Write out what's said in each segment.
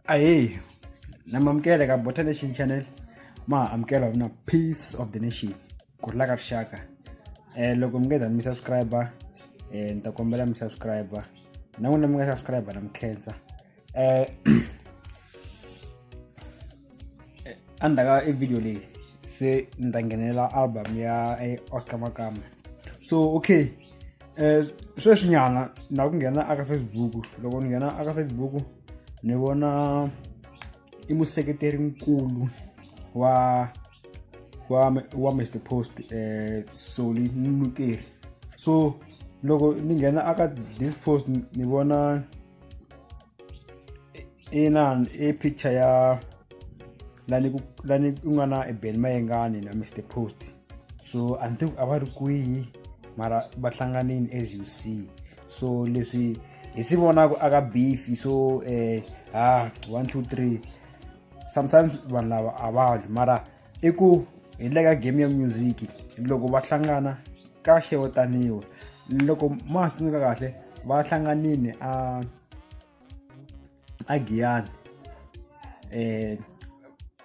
ahee namamukele ka bota nation channel ma amukela mina peace of the nation ku rila ka rixaka um loko mi nge za mi subscribe um ni ta kombela mi subscribe na n'wina mi nga subscribe na mi khensa eh, eh, andaka ividiyo leyi se ni ta nghenela album ya eh, oscar makama so okay um sweswinyana na ku nghena aka facebook loko ni nghena aka facebook ni vona i museketeri nkulu wa wa wa mr post eh soli nukeri so loko ni nghena aka this post ni vona ina i picture ya lani ku lani ku nga na ebeni mayengani na mr post so a ni tivi a va ri kwihi mara va hlanganini as you see so leswi hi swi vonaka aka beef so eh ha one two three sometimes vanhu lava a va dyi mara i ku hi le ka game ya music loko va hlangana ka xewetaniwa loko ma ha tsundzuka kahle va hlanganile a a giyani um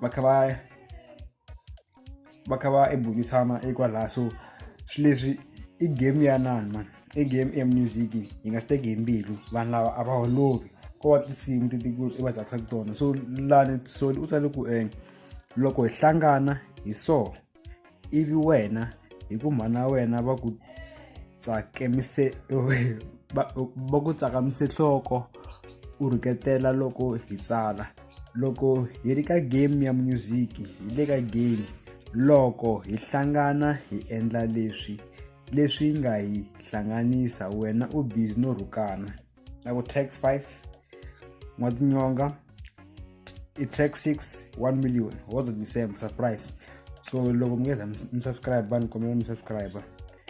va kha va va kha va ebunyisana ekwalaha so swi leswi i game ya nani mani i game ya music yi nga swi teki hi mbilu vanhu lava a va holovi ko va tinsimu ti i va tsakisaka tona so lani soli u tsale ku um loko hi hlangana hi so ivi wena hi ku mhana wena va ku tsakemise va ku tsakamise nhloko u rhuketela loko hi tsala loko hi ri ka game ya music hi le ka game loko hi hlangana hi endla leswi leswi nga hi hlanganisa wena u busy no rhukana i will take 5 mwatinyonga i track 6 1 million all the same surprise so loko mi nge za mi subscribe ni kombela mi subscribe